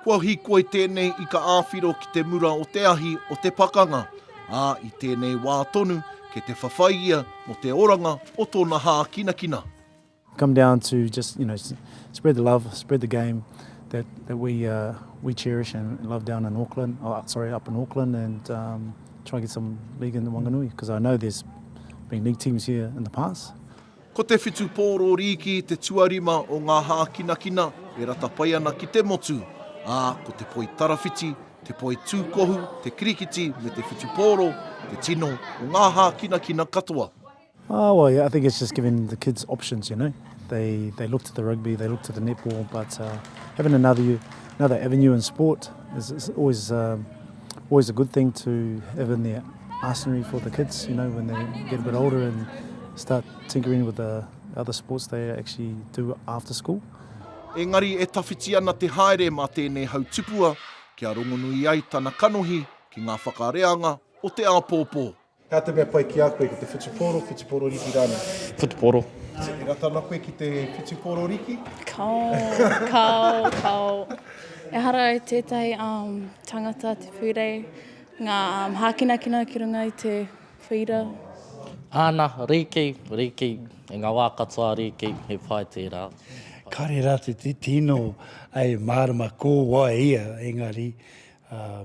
Kua hikoi tēnei ika āwhiro ki te mura o te ahi o te pakanga, ā, i tēnei wā tonu kei te whawhai ia mō te oranga o tōna hākinakina. Come down to just, you know, spread the love, spread the game that that we uh, we cherish and love down in Auckland, oh, sorry, up in Auckland and um, try and get some league in the Wanganui because I know there's been league teams here in the past. Ko te whitu pōro rīki te tuarima o ngā hākinakina e rata pai ana ki te motu, ā, ko te poi tarawhiti, te poi tūkohu, te kirikiti me te whitu pōro, te tino o ngā hākinakina katoa. Oh well, yeah, I think it's just giving the kids options, you know. They they look to the rugby, they look to the netball, but uh, having another another avenue in sport is, is always uh, always a good thing to have in their arsenal for the kids, you know, when they get a bit older and start tinkering with the other sports they actually do after school. Engari e tawhiti ana te haere mā tēnei hautupua kia rongonui ai tana kanohi ki ngā whakareanga o te āpōpō. He aha te mea pai ki a koe, ki te whutupōro, whutupōro riki rānei? Whutupōro. E rata ana koe ki te whutupōro riki? Kao, kao, kao. Ehara i tētahi um, tangata te pūrei, ngā um, hākinakina ki runga i te whīra. Āna, riki, riki, i ngā wā katoa riki, he pai tērā. Kāre rā te tino, ai mārama ko wai ia, engari, ā,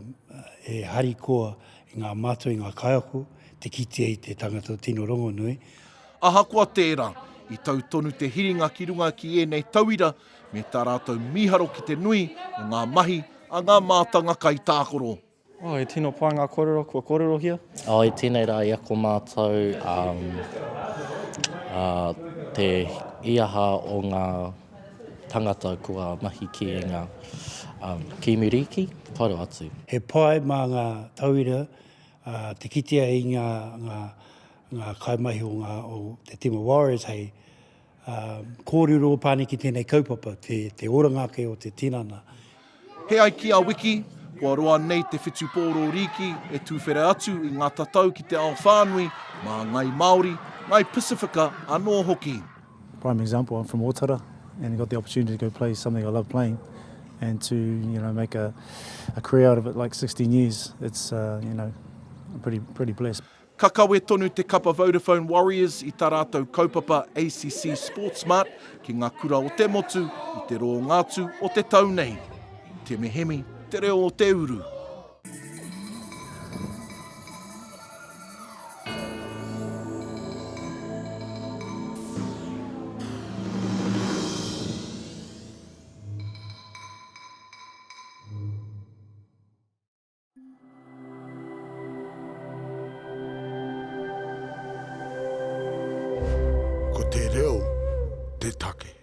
e harikoa i ngā mātua, i ngā kaiako, te kitea i te tangata o tino rongonui. Ahakoa tērā, i tau tonu te hiringa ki runga ki ēnei tauira me tā rātou mīharo ki te nui o ngā mahi a ngā mātanga kaitākoro. Oh, he tino pai ngā kōrero kua kōrerohia. Oh, i tēnei rā, i ako mātou, um, uh, te, i aha o ngā. Tangata kua mahi ki nga kiimiriki taro atu. He pai ma nga tauira te kitea i nga nga kaimahi o nga o te tima Warriors hei korero pāniki tenei kaupapa te oranga ake o te tinana He ai ki a Wiki, kua roa nei te whitu pōro rīki e tūwhera atu i ngā tatau ki te ao whānui, mā Ngai Māori, Ngai Pasifika anō hoki. Prime example, I'm from Otara and I got the opportunity to go play something I love playing and to you know make a career out of it like 16 years, it's you know, I'm pretty blessed. Ka kawe tonu te kapa Vodafone Warriors i tā rātou kaupapa ACC Sportsmart ki ngā kura o te motu i te rōnga atu o te tau nei. I temehemi te reo o te uru. Ko te reo te take.